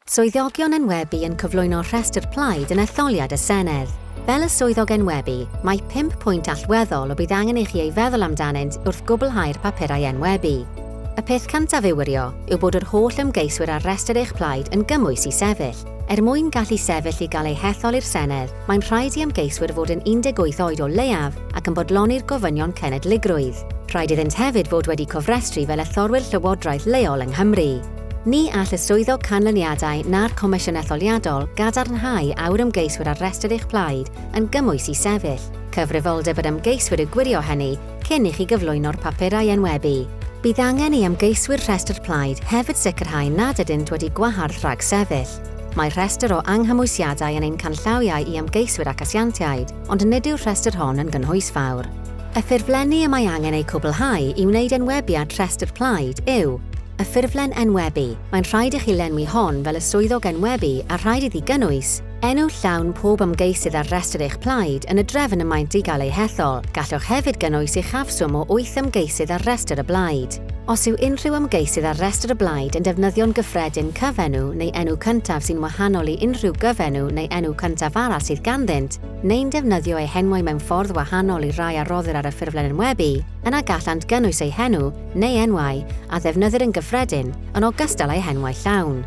Swyddogion enwebu yn cyflwyno rhestr plaid yn etholiad y Senedd. Fel y swyddog enwebu, mae pump pwynt allweddol y bydd angen i chi ei feddwl amdanynt wrth gwblhau'r papurau enwebu. Y peth cyntaf i'w wirio yw bod yr holl ymgeiswyr ar restr eich plaid yn gymwys i sefyll. Er mwyn gallu sefyll i gael eu hethol i'r Senedd, mae'n rhaid i ymgeiswyr fod yn 18 oed o leiaf ac yn bodloni'r gofynion cenedligrwydd. Rhaid iddynt hefyd fod wedi cofrestru fel etholwyr llywodraeth leol yng Nghymru. Ni all y Swyddog Canlyniadau na'r Comisiwn Etholiadol gadarnhau a yw'r ymgeiswyr ar restr eich plaid yn gymwys i sefyll. Cyfrifoldeb yr ymgeiswyr yw gwirio hynny cyn i chi gyflwyno'r papurau enwebu. Bydd angen i ymgeiswyr rhestr plaid hefyd sicrhau nad ydynt wedi gwahardd rhag sefyll. Mae rhestr o anghymwysiadau yn ein canllawiau i ymgeiswyr ac asiantiaid. ond nid yw'r rhestr hon yn gynhwys fawr. Y ffurflenni y mae angen eu cwblhau i wneud enwebiad rhestr plaid yw, y ffurflen enwebu, mae'n rhaid i chi lenwi hon fel y swyddog enwebu a rhaid iddi gynnwys, enw llawn pob ymgeisydd ar restr eich plaid yn y drefn y maent i gael eu hethol, gallwch hefyd gynnwys uchafswm o wyth ymgeisydd ar restr y blaid. Os yw unrhyw ymgeisydd ar restr y blaid yn defnyddio'n gyffredin cyfenw neu enw cyntaf sy'n wahanol i unrhyw gyfenw neu enw cyntaf arall sydd ganddynt, neu'n defnyddio eu henwau mewn ffordd wahanol i'r rhai a roddir ar y ffurflen enwebu, yna gallant gynnwys eu henw, neu enwau, a ddefnyddir yn gyffredin, yn ogystal â'u henwau llawn.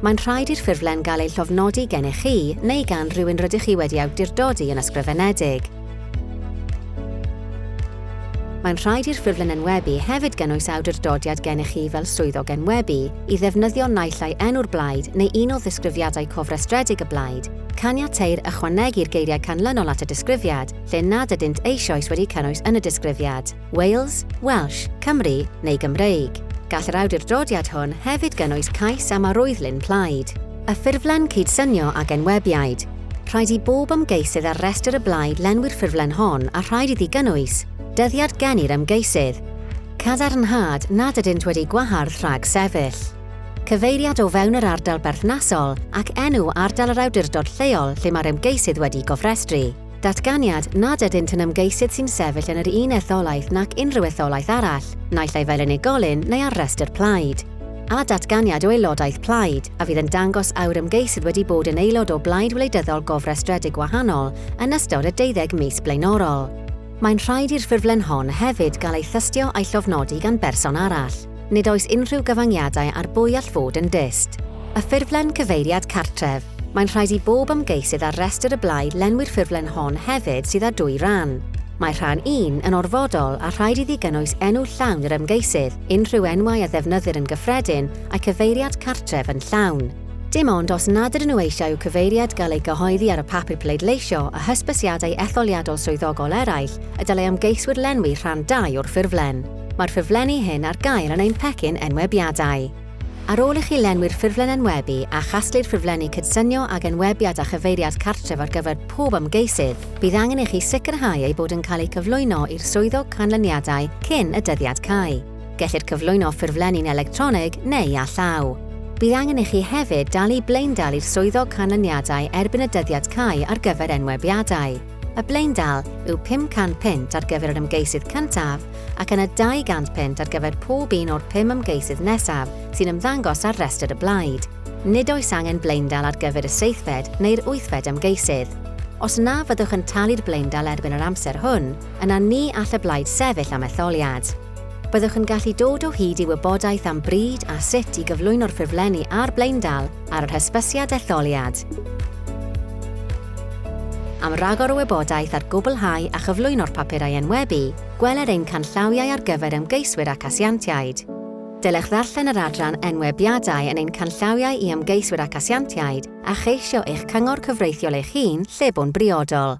Mae'n rhaid i'r ffurflen gael ei llofnodi gennych chi neu gan rywun rydych chi wedi awdurdodi yn ysgrifenedig. Mae'n rhaid i'r ffurflen enwebu hefyd gynnwys awdurdodiad gennych chi fel swyddog enwebu i ddefnyddio naill ai enw'r blaid neu un o ddisgrifiadau cofrestredig y blaid, caniateir ychwanegu'r geiriau canlynol at y disgrifiad lle nad ydynt eisoes wedi cynnwys yn y disgrifiad. Wales, Welsh, Cymru neu Gymreig. Gall yr awdurdodiad hwn hefyd gynnwys cais am arwyddlun plaid. Y ffurflen cydsynio ag enwebiaid. Rhaid i bob ymgeisydd ar restr y blaid lenwi'r ffurflen hon a rhaid iddi gynnwys dyddiad gen i'r ymgeisydd. Cadarnhad nad ydynt wedi gwahardd rhag sefyll. Cyfeiriad o fewn yr ardal berthnasol ac enw ardal yr awdurdod lleol lle mae'r ymgeisydd wedi gofrestru. Datganiad nad ydynt yn ymgeisydd sy'n sefyll yn yr un etholaeth nac unrhyw etholaeth arall, naill ai fel unigolyn neu ar restr plaid. A. Datganiad o aelodaeth plaid, a fydd yn dangos a yw'r ymgeisydd wedi bod yn aelod o blaid wleidyddol gofrestredig wahanol yn ystod y deuddeg mis blaenorol. Mae'n rhaid i'r ffurflen hon hefyd gael ei thystio a'i llofnodi gan berson arall. Nid oes unrhyw gyfyngiadau ar bwy all fod yn dyst. Y ffurflen cyfeiriad cartref. Mae'n rhaid i bob ymgeisydd ar restr y blaid lenwi'r ffurflen hon hefyd sydd â dwy ran. Mae rhan un yn orfodol a rhaid iddi gynnwys enw llawn yr ymgeisydd, unrhyw enwau a ddefnyddir yn gyffredin, a'i cyfeiriad cartref yn llawn. Dim ond os nad ydyn nhw eisiau i'w cyfeiriad gael ei gyhoeddi ar y papur pleidleisio a hysbysiadau etholiadol swyddogol eraill y dylai ymgeiswyr lenwi rhan ii o'r ffurflen. Mae'r ffurflenni hyn ar gael yn ein pecyn enwebiadau. Ar ôl i chi lenwi'r ffurflen enwebu a chasglu'r ffurflenni cydsynio ag enwebiad a chyfeiriad cartref ar gyfer pob ymgeisydd, bydd angen i chi sicrhau eu bod yn cael eu cyflwyno i'r Swyddog Canlyniadau cyn y dyddiad cau. Gellir cyflwyno ffurflenni'n electronig neu â llaw. Bydd angen i chi hefyd dalu blaendal i'r Swyddog Canlyniadau erbyn y dyddiad cau ar gyfer enwebiadau. Y blaendal yw 500 punt ar gyfer yr ymgeisydd cyntaf ac yna 200 punt ar gyfer pob un o'r pum ymgeisydd nesaf sy'n ymddangos ar restr y blaid. Nid oes angen blaendal ar gyfer y seithfed neu'r wythfed ymgeisydd. Os na fyddwch yn talu'r blaendal erbyn yr amser hwn, yna ni all y blaid sefyll am etholiad. Byddwch yn gallu dod o hyd i wybodaeth am bryd a sut i gyflwyno'r ffurflenni a'r blaendal ar yr hysbysiad etholiad. Am ragor o wybodaeth ar gwblhau a chyflwyno'r papurau enwebu, gweler ein canllawiau ar gyfer ymgeiswyr ac asiantiaid. Dylech ddarllen yr adran Enwebiadau yn ein canllawiau i ymgeiswyr ac asiantiaid a cheisio eich cyngor cyfreithiol eich hun lle bo'n briodol.